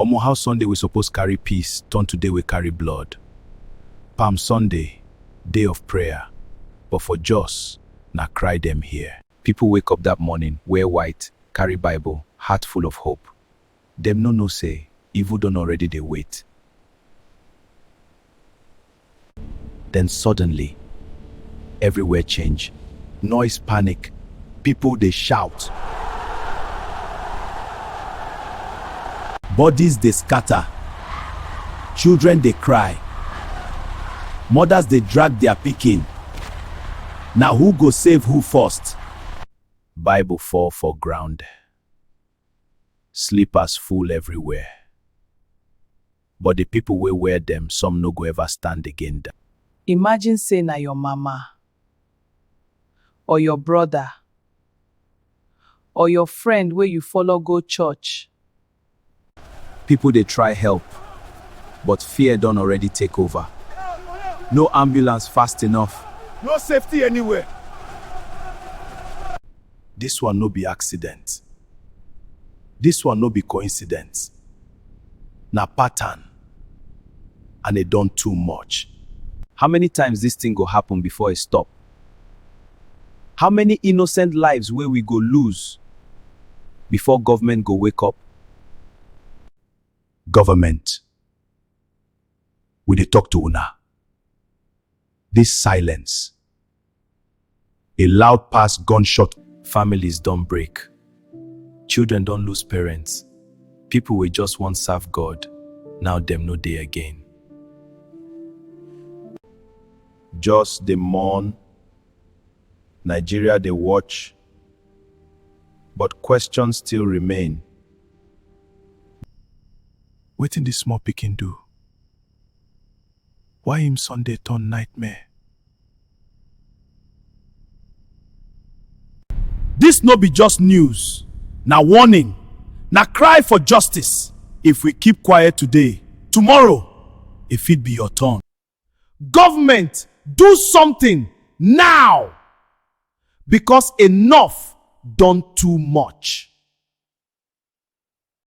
Omo how Sunday we suppose carry peace turn to day we carry blood. Palm Sunday, day of prayer, but for Jos, na cry dem hear. People wake up that morning, wear white, carry Bible, heart full of hope. Dem no know say evil don already dey wait. Den suddenly, everywhere change, noise panic, people dey shout, bodies dey scatter, children dey cry, mothers dey drag their pikin, na who go save who first? Bible fall for ground, slippers full everywhere, but the people wey wear dem some no go ever stand again da. Imagine say na your mama or your brother or your friend wey you follow go church. People dey try help but fear don already take over, no ambulance fast enough. No safety anywhere. This one no be accident, this one no be coincidence. Na pattern and e don too much. How many times dis thing go happen before e stop? How many innocent lives wey we go lose before government go wake up? Government, we dey talk to una, dis silence A loud pass gunshot. Families don break. Children don lose parents. People wey just wan serve God, now dem no dey again. Just dey mourn. Nigeria dey watch. But questions still remain. Wetin this small pikin do? Why im son dey turn nightmare? Dis no be just news, na warning, na cry for justice, if we keep quiet today, tomorrow e fit be your turn. Government do something now! Because enough don too much.